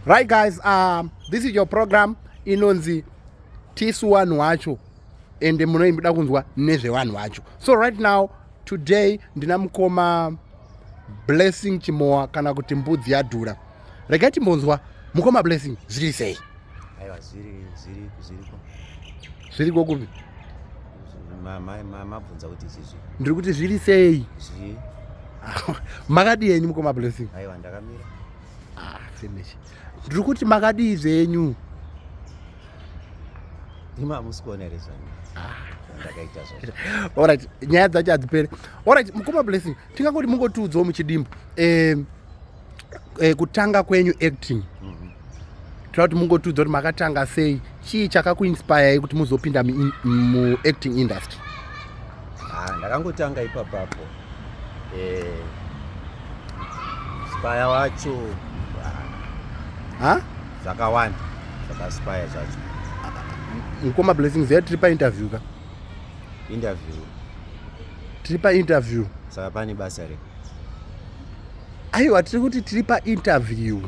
right guys um, this is your program inonzi tisu wanhu wacho ende munoimbuda kunzwa nezvevanhu vacho so right now today ndina mukoma blessing chimowa kana kuti mbudzi yadhura regai timbonzwa mukoma blessing zviri sei aiwa zviri zviri zviriko zviriko kupi mabvunza kuti izvizvi ndiri kuti zviri sei zvii makadii henyu mukoma blessing aiwa ndakamira ah, finish ndiri kuti makadii zvenyu imi hamusi kuona here zvanyu ndakaita zvo orit nyaya dzacho hadzipere orit mukoma blessing tingangoti mungotiudzawo muchidimbo um, eh, kutanga kwenyu acting mm -hmm. tira kuti mungotiudza kuti makatanga sei chii chakakuinspirei kuti muzopinda muacting mu industry ah, ndakangotanga ipapapo eh, spire wacho ah, zvakawanda zvakaspire zvacho mukoma blessings ya tiri painterview ka interview tiri painterview saka pane basa rei aiwa tiri kuti tiri painterview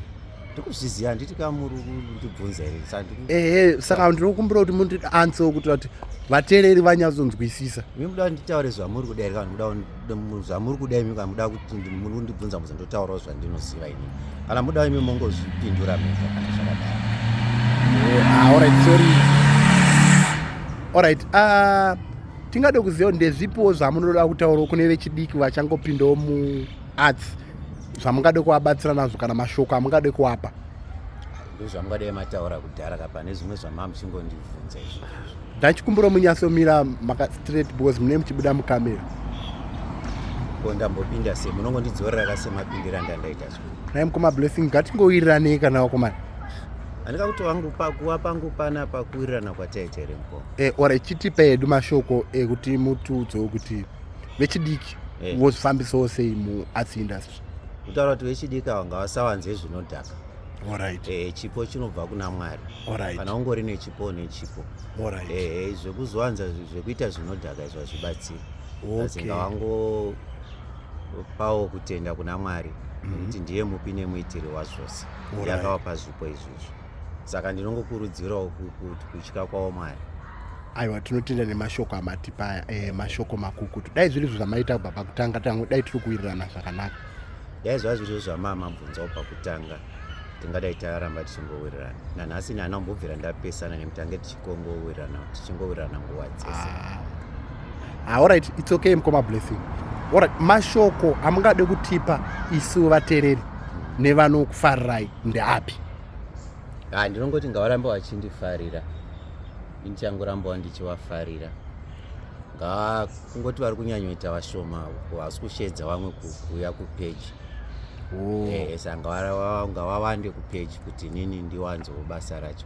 ndikuzviziva handiti ka muri kundibvunza ehe saka ndinokumbira kuti muti anse kuti vati vateereri vanyatsonzwisisa mi muda nditaure zvamuri kuda here kana zvamuri kuda imi kana muda kuti muri kundibvunza muzi ndotaurawo zvandinoziva ini kana muda imi mongozvipindura mega kana zvakadai eh, ah, allright sorry allright ah, tingade kuziva kuti ndezvipiwo zvamunoda kutaurawo kune vechidiki vachangopindawo muarts zvamungade kuvabatsira nazvo kana mashoko amungade kuwapa ndozvamungadai mataura kudhara ka pane zvimwe zvamamuchingondibvunza izvozvo ndachikumbiro munyasomira makastraight because mune muchibuda mukamera ko ndambopinda se munongondidzorera ka semapindira ndandaita zvo nai mukoma blessing ngatingowirirane kana wakomana andika kuti wangu pakuwa pangu pana pakuwirirana kwataita here mukoma eh, or ichitipa edu mashoko ekuti eh, mutiudzewo kuti vechidiki eh. vozvifambisawo hey. sei muarts industry kutaura kuti vechidiki ava ngavasawanze zvinodhaka Alright. Eh, chipo chinobva kuna mwari Alright. kana ungori nechipo une chipo Alright. Eh, zvekuzowanza zvekuita zvinodhaka izvo hazvibatsiri okay. asi ngavangopawo kutenda kuna mwari mm -hmm. kuti ndiye mupi nemuitiri wazvose ndiye akavapa zvipo izvizvo saka ndinongokurudzirawo kutya kwawo mwari aiwa tinotenda nemashoko amatipa aya e, mashoko makukutu dai zviri zvo zvamaita kubva pakutanga tangu dai tiri kuwirirana zvakanaka dai zvaa zviri zvo zvamaa mabvunzawo pakutanga tingadai taramba tichingowirirana nanhasi nani ambobvira ndapesana nemutange tichingowirirana tichingowirirana nguva dzese ah. ah, allright its okay mukoma blessing ora mashoko amungade kutipa isu vatereri nevanokufarirai ndeapi ah, ndinongoti ngavaramba vachindifarira indichangorambawo ndichivafarira ngaa kungoti vari kunyanyoita vashoma hasi kusheedza vamwe kuuya kupeji oh. eh, eh, sanga ngavawande kupeji kuti nini ndiwanzewo basa racho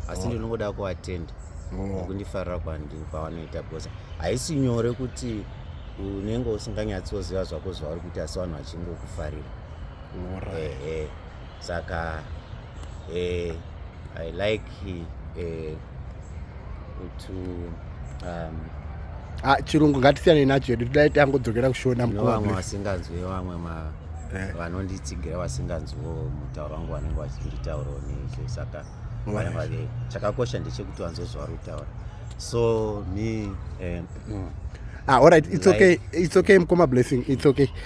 asi oh. ndinongoda kuvatenda oh. kundifarira kwavanoita because haisi nyore kuti unenge usinganyatsoziva zvako zvavari kuita asi vanhu vachingokufarira ehe saka eh, i like eh, to um, ah, chirungu ngatisiyane nacho edu todai tangodzokera kushona mvamwe vasinganzwe vamwe eh. vanonditsigira vasinganzwewo mutauro wangu vanenge vachinditaurawo nezvo saka chakakosha ndechekuti vanzwe zvavari kutaura so me eh, mm. ah, all right it's okay it's okay mkoma blessing it's okay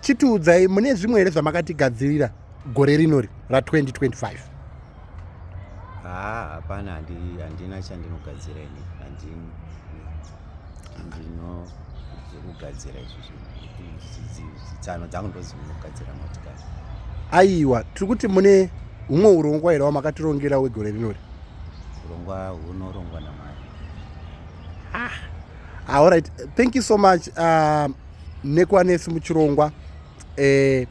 chitiudzai mune zvimwe here zvamakatigadzirira gore rinori ra2025 haa hapana handina chandinogadzira ini handino zvekugadzira izvozvitsano dzangu ndozinogadzira motikari aiwa tiri kuti mune humwe urongwa here wamakatirongera wegore rinori urongwa hunorongwa namwari ah, all right thank you so much uh, nekwanesi muchirongwa eh,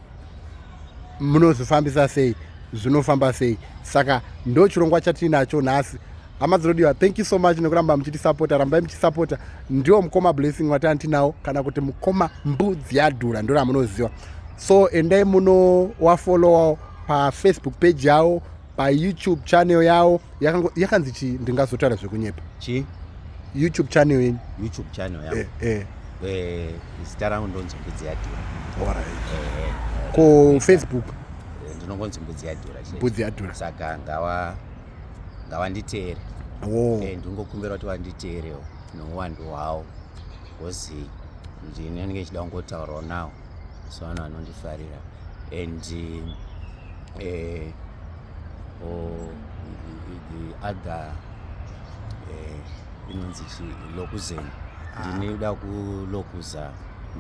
munozvifambisa sei zvinofamba sei saka ndo chirongwa chatiinacho nhasi hama dzinodiwa thank you so much nekuramba muchitisapota rambai muchisapota ndiwo mukoma blessing watani tinawo kana kuti mukoma mbudzi yadhura ndo ramunoziva so endai muno wafolowa pafacebook page yavo payoutube channel yawo yakanzi chii ndingazotaura zvekunyepa chii youtube channel yenyu youtube channel yawo eh, eh. eh, zita rangu ndonzi mbudzi yadhura ko facebook ndinongonzi mbudzi yadhura mbudzi yadhura saka ngawa ngawanditeere oh. ndingokumbira kuti wanditeerewo neuwandu hwawo bcause ndinenge ndichida kungotaurawo nawo so vanhu vanondifarira and uh, or the other eh, inonzi uh, chi lokuzeni ah. ndine kuda kulokuza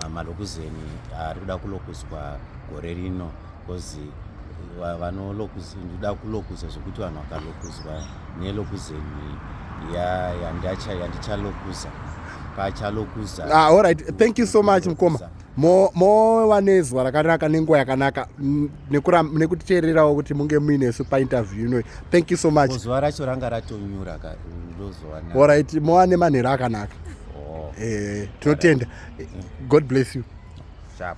mama lokuzeni ari kuda kulokuzwa gore rino bcause ndida kulokuza zvekuti vanhu vakalokuzwa nelokuzeni yandichalokuza pachalokuza ah, all right thank you so much mukoma mova nezuva rakanaka nenguva yakanaka mm, nekutiteererawo kuti munge muinesu painterview inoyi thank you so much zuva racho ranga ratonyura orit mova nemanhero akanaka oh. eh, tinotenda god bless you Sharp.